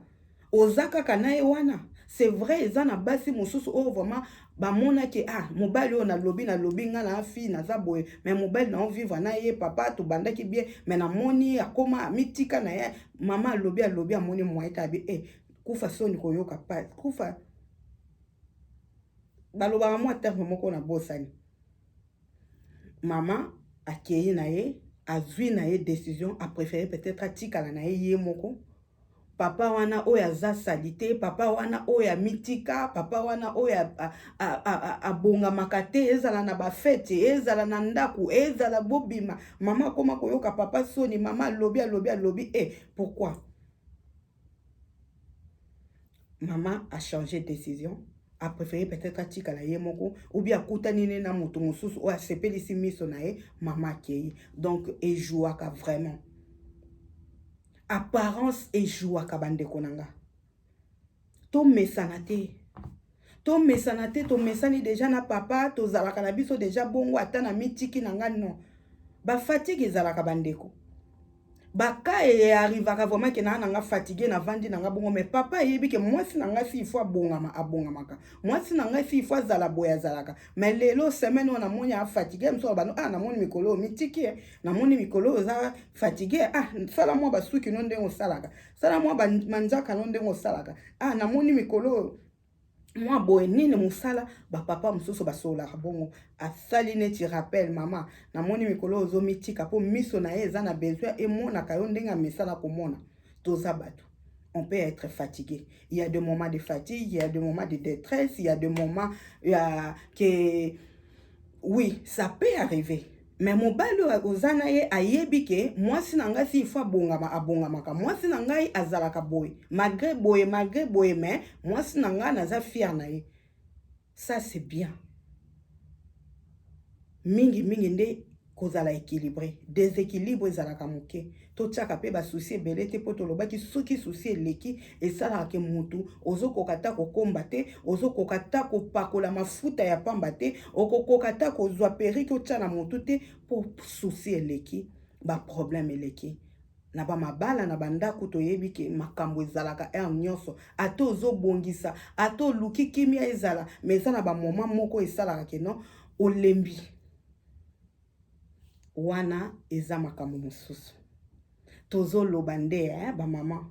oza kaka na ye wana c'est vrai eza na basi mosusu oyo vraiment bamonaki ah mobali oyo nalobi nalobi ngai na fille naza boye me mobali na ovivre na ye papa tobandaki bien me namoni akoma amitika na ye mama alobi alobi amoni moye tabi e eh, kufa soni koyoka pa kufa balobaka mwa terme moko na bosani mama akei na ye azwi na ye décision apréféré peut-être atikala na ye ye moko papa wana oyo aza salite papa wana oyo amitika papa wana oyo abongamaka te ezala na bafete ezala na ndako ezala bobima mama akoma koyoka papa soni mama alobi alobi alobi e eh, pourkui mama achange décision apréféré peut-être atikala ye moko oubien akutani ne na moto mosusu oyo asepelisi miso na ye mama akei donc ejouaka vraiment Apparence e jouaka ba ndeko na nga. To mesana te. To mesana te, to mesani deja na papa, to zalaka na biso deja bongo ata na mitiki na nga non. Ba fatigue ezalaka ba ndeko. Ba cas e arrivaka vraiment ke na na nga fatigue na vandi na nga bongo mais papa eyebi ke mwasi na nga si il faut abongama abongamaka. Mwasi na nga si il faut azala boye azalaka. Mais lelo semaine oyo na moni a fatigue, mosusu aloba no ah na moni mikolo oyo mitiki eh. namoni mikolo oyo oza fatigue ah sala mwa basuki no ndenge osalaka sala mwa manzaka no ndenge osalaka ah namoni mikolo oyo mwa boye nini mosala bapapa mosusu basololaka bongo asali neti rappel mama namoni mikolo oyo ozomitika mpo miso na ye eza na besoin emonaka yo ndenge amesana komona toza bato on peut être fatigué. Il y a des moments de fatigue, il y a des moments de détresse, il y a des moments euh, que... Oui, ça peut arriver. Mais mobali oyo oza na ye ayebi ke mwasi na ngai si il faut abongama abongamaka. Mwasi na ngai azalaka boye malgre boye malgre boye mais mwasi na ngai naza fier na ye. Ça c'est bien. Mingi mingi nde kozala equilibre. Desequilibre ezalaka moke. Totiaka pe ba soucis ebele te po tolobaki soki soucis eleki esalaka ke mutu ozokoka ata kokomba te, ozokoka ata kopakola mafuta ya pamba te, okokoka ata kozua perruque otia na mutu te po soucis eleki ba problème eleki. Na ba mabala na ba ndaku toyebi ke makambu ezalaka heure nionso ata ozobongisa ata oluki kimia ezala mais eza na ba moment moko esalaka ke non olembi. Wana eza makambo mosusu. Tozo loba nde eh ba maman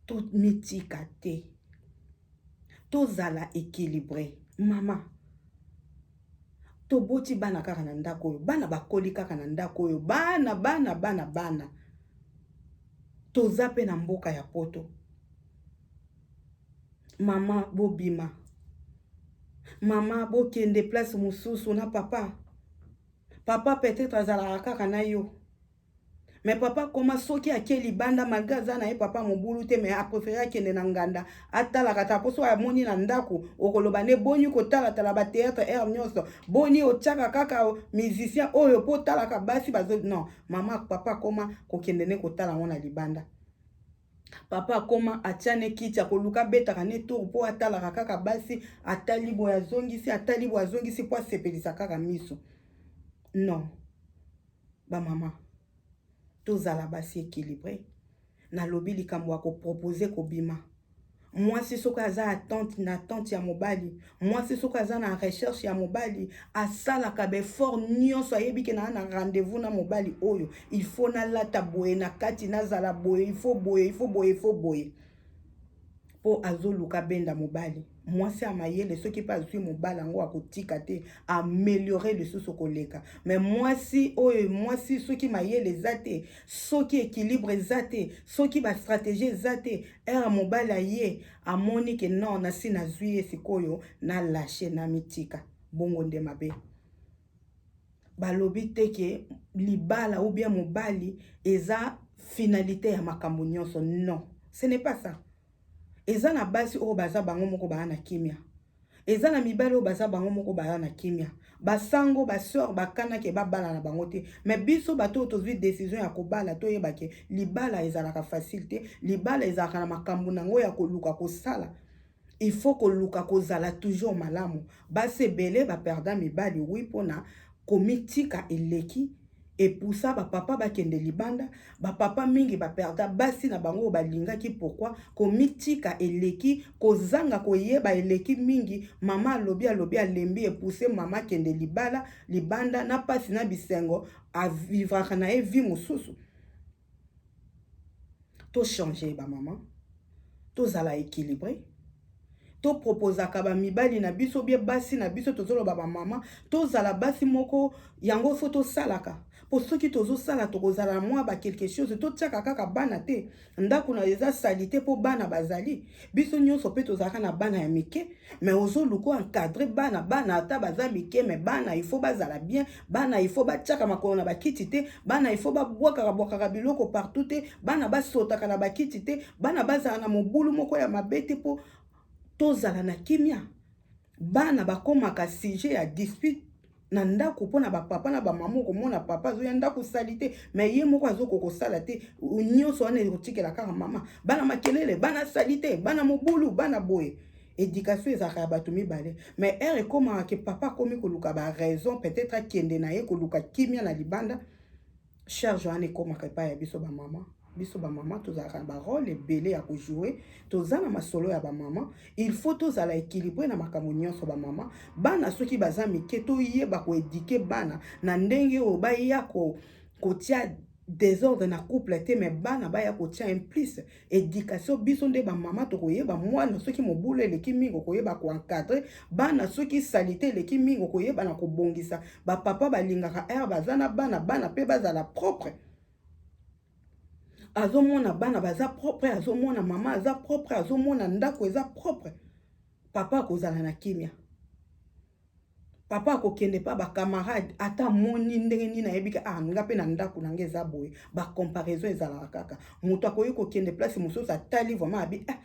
to mitika te. To zala equilibre. Maman to boti bana kaka na ndako oyo. Bana ba koli kaka na ndako oyo. Bana bana bana bana. Toza pe na mboka ya poto. mama bobima mama bokende place mosusu na papa papa peut-être azalaka kaka na yo mais papa koma soki ake libanda malgre aza na ye papa mobulu te mais aprefere akende na nganda atalaka ta mposo amoni na ndako okoloba nde boni kotalatala bateatre aire nyonso boni otyaka kaka musicien oyo mpo otalaka basi bazo non mama papa koma kokende nde kotala yango na libanda Papa akoma atia ne kiti akoluka abetaka ne tour mpo atalaka kaka basi atali boye azongisi atali boye azongisi mpo asepelisa kaka miso non bamama tozala basi équilibre nalobi likambo ya kopropose kobima Mwasi soki aza attente na attente ya mobali, mwasi soki aza na recherche ya mobali, asalaka befort nyonso, ayebi ke naa na rendez-vous na mobali oyo, il faut nalata boye na kati, nazala boye, il faut boye, il faut boye, il faut boye mpo azoluka benda mobali. Mwasi ya mayele soki mpe azwi mobali yango akotika te, ameliore lisusu koleka. Me mwasi oyo mwasi soki mayele eza te, soki ekilibre eza te, soki bastrategie eza te, Heure mobali aye amoni ke non nasi nazui ye sikoyo na lache na mitika bongo nde mabe. Balobi te ke libala ou bien mobali eza finalite ya makambo nionso non ce n'est pas ça. Eza na basi oyo baza bango moko baa na kimia. Eza na mibali oyo baza bango moko baza na kimia. Ba sango, ba soeurs ba kana ke ba bala na bango te. Mais biso bato oyo tozui decision ya ko bala to yeba ke libala ezalaka facile te. Libala ezalaka na makambu na yango ya ko luka ko sala. Il faut ko luka ko zala toujours malamu. Basi ebele ba perda mibali oui pona Komitika eleki epoussa ba papa bakende libanda, ba papa mingi ba perda basi na bango oyo balingaki pourquoi? Komitika eleki, kozanga koyeba eleki mingi, mama alobi alobi alembi epousse mama akende libala, libanda na pasi na bisengo a vivraka na ye vie mosusu. To changer ba maman, tozala equilibre, to proposaka ba mibali na biso ou bien basi na biso, tozoloba ba maman, tozala basi moko, yango faut tosalaka po soki tozosala tokozala mua ba quelque chose, totiaka kaka bana te, ndaku nayo eza salite po bana bazali, biso nyonso mpe tozalaka na bana ya mike me ozoluka oencadre bana bana ata baza mike me bana ifo bazala bien bana ifo batiaka makolo na bakiti te bana ifo babwakaka bwakaka biloko partout te bana basotaka na bakiti te bana bazala na mobulu moko ya mabe te mpo tozala na kimia bana bakomaka sujet ya dispute na ndako mpo na bapapa na bamama okomona papa azoya ndako sali te me ye moko azoko kosala te nyonso wana ekotikela kaka mama bana makelele bana sali te bana mobulu bana boye éducation ezalaka ya bato mibale mais heure ekomaka ke papa akomi koluka baraison peut-être akende na ye koluka kimia na libanda charge wana ekomaka epai ya biso bamama biso bamama tozalaka na barole ebele ya kojoue toza na masolo ya bamama il faut tozala ekilibre na makambo nyonso bamama bana soki baza mike toyeba koedike bana na ndenge oyo baya kotia desordre na couple te me bana baya kotia implice Education biso nde ba mama tokoyeba mwana soki mobulu eleki mingi okoyeba ko encadrer bana soki salite eleki mingi okoyeba na kobongisa ba papa balingaka air baza na bana bana pe bazala propre azomona bana baza propre azomona mama aza propre azomona ndako eza propre papa akozala na kimia Papa ako kende epa ba camarade ata amoni ndenge nini ayebi ke ah nga pe na ndaku na nga eza boye ba comparaison ezalaka kaka mutu akoki ko kende place mususu atali vraiment abi eh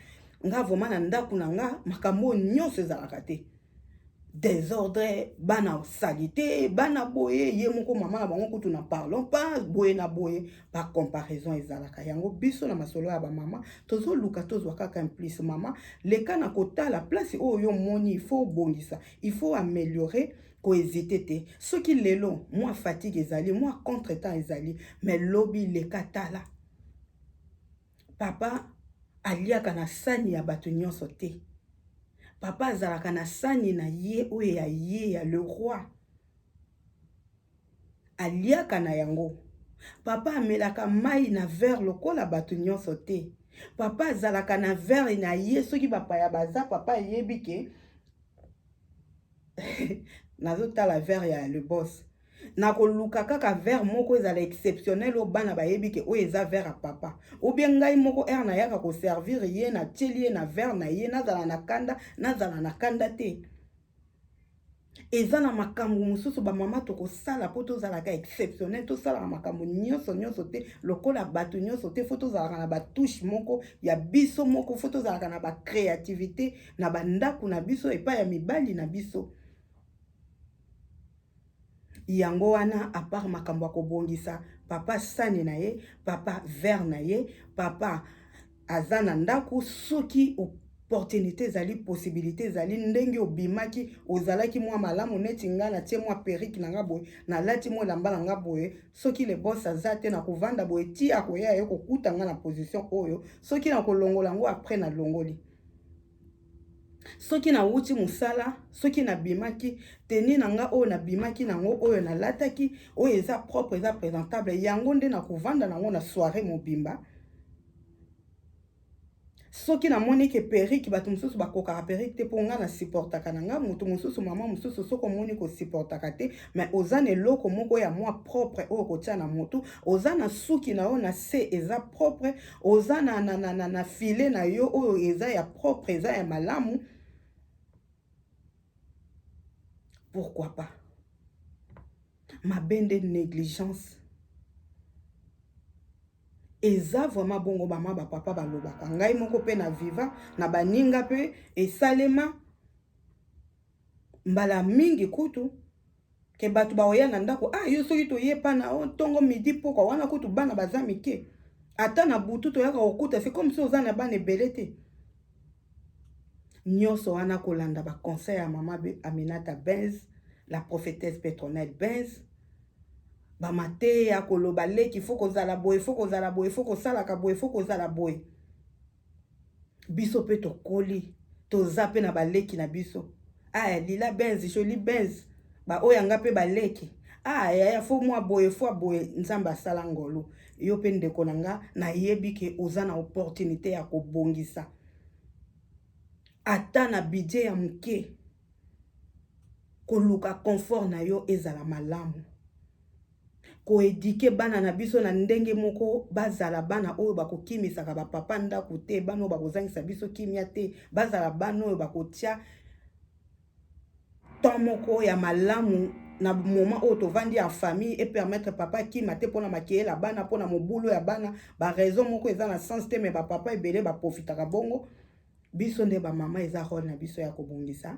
nga vraiment na ndaku na nga makambo oyo nionso ezalaka te desordre bana salite bana boye ye moko mama na bango kutu na parlons pas boye na boye ba comparaison ezalaka yango biso na masolo ya bamama tozoluka tozwa kaka implice mama leka na kotala place oyo yo omoni ifo obongisa ifo ameliore kohésite te soki lelo mwa fatigue ezali mwa contre temps ezali mais lobi leka tala papa aliaka na sani ya bato nyonso te papa azalaka na sani na ye oyo ya ye ya le roi Aliaka na yango. Papa amelaka mayi na verre lokola batu nionso te. Papa azalaka na verre na ye soki bapaya baza papa ayebi ke nazotala verre ya le boss nakoluka kaka verre moko ezala exceptionnel oyo bana bayebi ke oyo eza verre ya papa obie ngai moko ere nayaka koservir ye natieli ye na verre na ye nazala na kanda nazala na kanda te eza na makambo mosusu bamama tokosala mpo tozalaka exceptionnel tosalaka makambo nyonso nyonso te lokola bato nyonso te fo tozalaka na batouche moko ya biso moko fo tozalaka na bacréativité na bandako na biso epai ya mibali na biso Yango wana a part makambo ya kobongisa papa sani na ye, papa verre na ye, papa aza na ndaku soki opportunite ezali possibilite ezali ndenge obimaki ozalaki mua malamu neti nga na tie mua perruque na nga boye na lati mua elamba na nga boye soki le boss aza te na kovanda boye ti akoya ye kokuta nga na position oyo soki na kolongola yango après na longoli soki nawuti mosala, soki nabimaki, tenue na nga oyo nabimaki na yango, oyo nalataki, oyo eza propre, eza presentable, yango nde nakovanda na yango na soiree mobimba. Soki namoni ke perruque, batu mosusu bakokaka perruque te, po nga na supportaka na nga, mutu mosusu, maman mosusu, soki omoni ke o supportaka te, mais oza na eloko moko ya mua propre oyo okotia na mutu, oza na suki na yo na se eza propre, oza na, na, na, na, na file na yo oyo eza ya propre eza ya malamu pourquoi pas mabe nde négligence eza vraiment bongo bama bapapa balobaka ngai moko mpe na viva na baninga mpe esalema Mbala mingi kutu ke batu baoya na ndako ah yo soki toye pana oh tongo midi pokwa wana kutu bana baza mike ata na butu toyaka kokuta c'est comme si oza na bana ebele te nionso wana kolanda ba conseil ya mama Aminata Benz la prophétesse Petronelle Benz ba mateya koloba leki faut kozala boye faut kozala boye faut kosalaka boye faut kozala boye biso pe tokoli toza pe na ba leki na biso ah lila benz jolie benz ba oyo yanga pe ba leki ah yaya fo mwa boye fwa boye nzambe asala ngolu yo pe ndeko na nga na yebi ke oza na opportunite ya kobongisa ata na budget ya moke koluka confort na yo ezala malamu ko eduquer bana na biso na ndenge moko bazala bana oyo bakokimisaka ba papa ndako te, bana oyo bakozangisa biso kimia te, bazala bana oyo bakotia temps moko ya malamu na moment oyo tovandi en famille et permettre papa akima te mpona makeyela bana mpona mobulu ya bana ba raison moko eza na sens te mais ba papa ebele ba profitaka bongo biso nde ba mama eza role na biso ya kobongisa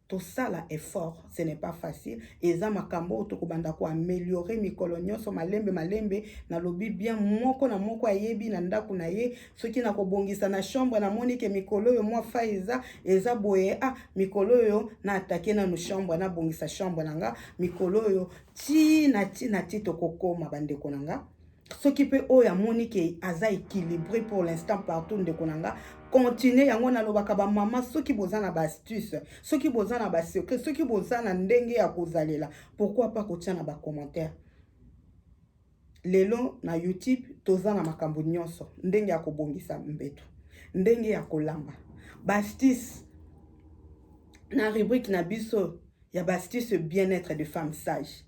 Tosala effort ce n'est pas facile eza makambo oyo tokobanda ko ameliorer mikolo nionso malembe malembe nalobi bien moko na moko ayebi na ndaku na ye soki na kobongisa na chambre na moni ke mikolo oyo mwa faille eza eza boye ah mikolo oyo na attaquer nanu chambre na bongisa chambre na nga mikolo oyo ti na ti na ti tokokoma bandeko na nga soki mpe oyo amoni ke aza équilibré pour l'instant partout ndeko na nga continue yango nalobaka bamama soki boza na baastuce soki boza na basecret soki boza na ndenge ya kozalela pourquoi pas kotya na bacommentaire lelo na youtube toza na makambo nyonso ndenge ya kobongisa mbeto ndenge ya kolamba bastis na rubrique na biso ya bastis bien-être de femme sage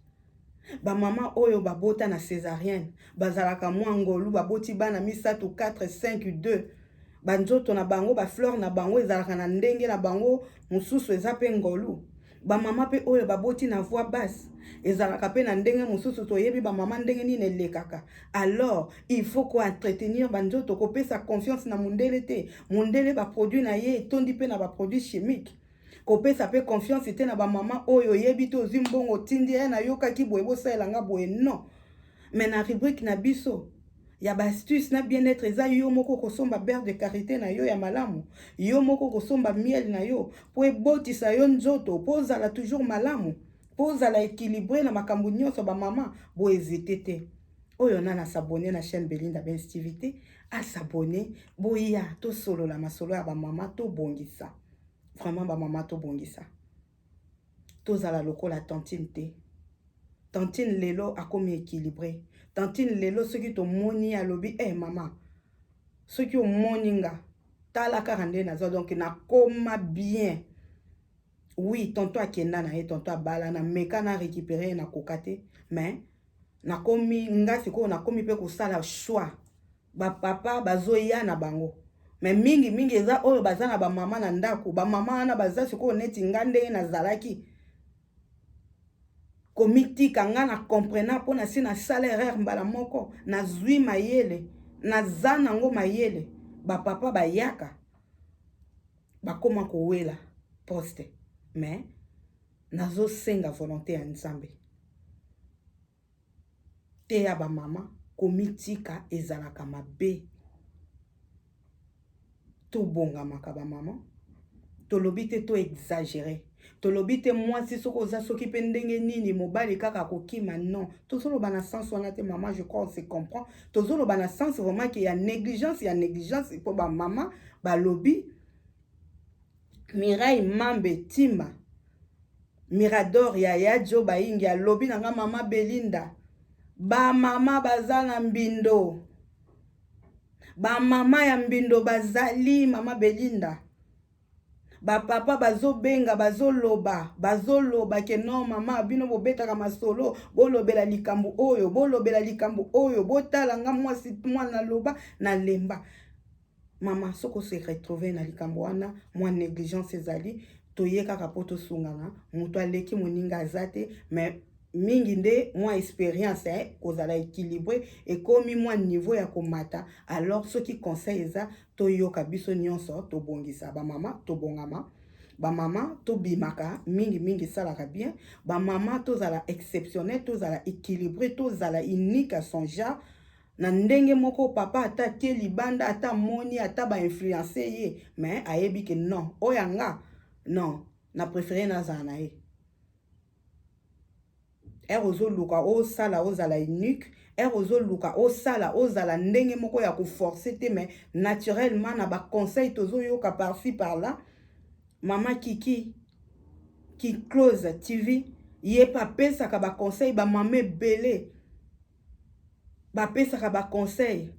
Ba maman oyo ba bota na cesarienne bazalaka mwa ngolu ba boti bana misatu 4 5 2 ba nzoto na bango ba fleur na bango ezalaka na ndenge na bango mususu eza pe ngolu ba maman pe oyo ba boti na voix basse ezalaka pe na ndenge mususu toyebi ba maman ndenge nini elekaka alors il faut ko entretenir ba nzoto kopesa confiance na mundele te mundele ba produit na ye etondi pe na ba produit chimique Kopesa pe confiance te na ba maman oyo oyebi te ozui mbongo otindi eh na yokaki boye bosalela nga boye non mais na rubrique na biso ya ba astuce na bien etre eza yo moko okosomba beurre de karite na yo ya malamu yo moko okosomba miel na yo po ebotisa yo nzoto po ozala toujours malamu po ozala equilibre na makambo nyonso ba maman bo hesite te oyo nana s'abonner na chaîne Belinda Benz TV te a s'abonner boya tosolola masolo ya ba maman tobongisa Vraiment ba maman tobongisa tozala lokola tantine te tantine lelo akomi equilibre tantine lelo soki tomoni ye alobi e eh, mama soki omoni nga tala kaka nde naza donc nakoma bien oui tonto akenda na ye tonto abala na meka na récupere ye nakoka te mais nakomi nga sikoyo nakomi mpe kosala choix ba papa bazoya na bango me mingi mingi eza oyo baza na bamama na ndako bamama wana baza sikoyo neti nga ndenge nazalaki komitika nga na comprena mpo na si nasala erreur mbala moko nazwi mayele naza nango mayele bapapa bayaka bakoma kowela poste me nazosenga volonté ya nzambe Teya ba mama komitika ezalaka mabe. Tobongamaka ba mama. Tolobi te to exagerer. Tolobi te mwasi soki oza soki pe ndenge nini mobali kaka akokima non. Tozoloba na sens wana te mama je crois on se comprend. Tozoloba na sens vraiment que ya negligence ya negligence po ba mama balobi Mireille Mambe Timba Mirador yaya Djo Bayingi alobi na nga mama Belinda ba mama baza na mbindo ba mama ya mbindo bazali mama Belinda bapapa bazobenga bazoloba bazoloba ke no mama bino bobetaka masolo bolobela likambo oyo bolobela likambo oyo botala nga mwasi mwana naloba nalemba Maman soki o se retrouver na likambo wana mua negligence ezali toye kaka po tosungana mutu aleki moninga aza te mais mingi nde mwa experience eh, kozala equilibre ekomi mwa niveau ya komata alors soki conseil eza toyoka biso nyonso tobongisa bamama tobongama bamama tobimaka mingi mingi esalaka bien bamama tozala exceptionnel tozala equilibre tozala unique à son genre Na ndenge moko papa ata atie libanda ata amoni ata ba influencer ye mais ayebi ke non oyo ya nga non na prefere nazala na ye ere ozoluka osala ozala unique ere ozoluka osala ozala ndenge moko ya koforce te mais naturellement na baconseil tozoyoka parci par là mama kiki kiclose tv ye pe apesaka baconseil bamama ebele ba pesaka ba conseil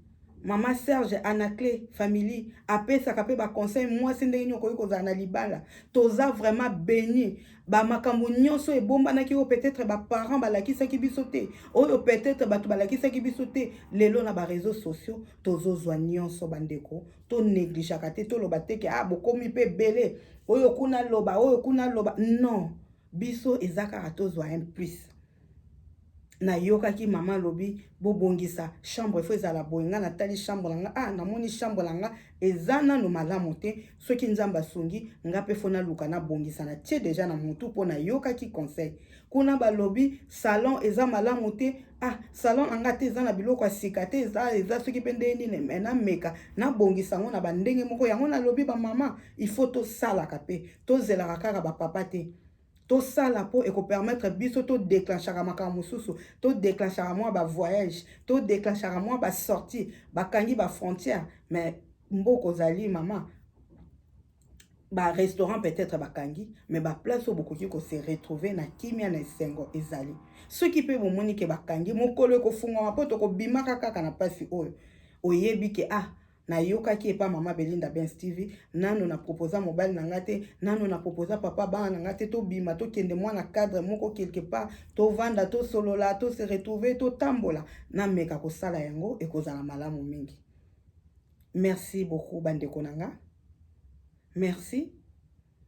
mama serge anacle family apesaka pe ba conseil mwasi ndenge nini okoki kozala na libala toza vraiment beni ba makambo nyonso ebombanaki oyo peut-être ba parents balakisaki biso te oyo peut-être bato balakisaki biso te lelo na ba réseaux sociaux tozozwa nyonso bandeko to negligeaka te toloba te ke ah bokomi pe ebele oyo kuna loba oyo kuna loba non Biso eza kaka tozwa un plus. Nayokaki mama alobi bobongisa chambre il faut ezala boye nga natali chambre na nga ah namoni chambre na nga eza nanu malamu te soki nzambe asungi nga pe fo naluka nabongisa natie deja na mutu mpo nayokaki conseil kuna balobi salon eza malamu te ah salon na nga te eza na biloko ya sika te eza eza soki mpe ndenge nini me nameka nabongisa yango na bandenge moko yango nalobi bamama il faut tosalaka mpe tozelaka kaka ba papa te tosala mpo ekopermettre biso todeclenchaka makambo mosusu todeclenchaka mwa bavoyage todeclenchaka mwa basortie bakangi bafrontière mais mboka ozali mama barestaurant peut-être bakangi mais baplace oyo bokoki kose retrouver na kimia na esengo ezali soki mpe bomoni ke bakangi mokolo ekofungwama mpo tokobimaka kaka na mpasi oyo oyebi ke ah nayokaki epa mama belinda bens tv nano na proposa mobali na ngai te nano na proposa papa bana na ngai te tobima tokende mwana cadre moko quelque part tovanda tosolola to se retrouver totambola nameka kosala yango ekozala malamu mingi merci beaucoup bandeko na ngai merci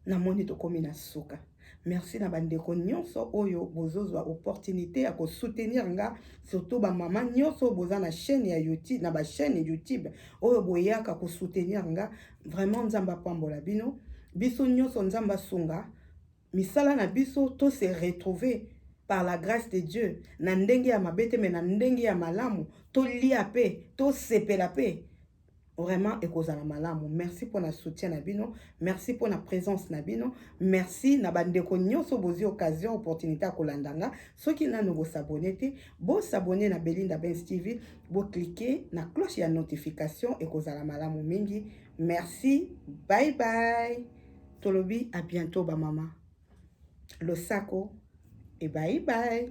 Na moni tokomi na suka. Merci na ba ndeko nionso oyo bozo zwa opportunite ya ko soutenir nga surtout ba maman nionso oyo boza na chaine ya youtube na ba chaine youtube oyo boyaka ko soutenir nga vraiment nzambe apambola bino biso nionso nzambe asunga misala na biso to se retrouver par la grâce de Dieu na ndenge ya mabete mais na ndenge ya malamu to lia pe to sepela pe Vraiment ekozala malamu. Merci pour na soutien na bino. Merci pour na présence na bino. Merci na bandeko nyoso bozi occasion opportunité ya kolanda nga. Soki nanu bo s'abonner te, bo s'abonner na Belinda Benz TV, bo cliquer na cloche ya notification ekozala malamu mingi. Merci. Bye bye. Tolobi à bientôt ba mama. Losako et bye bye.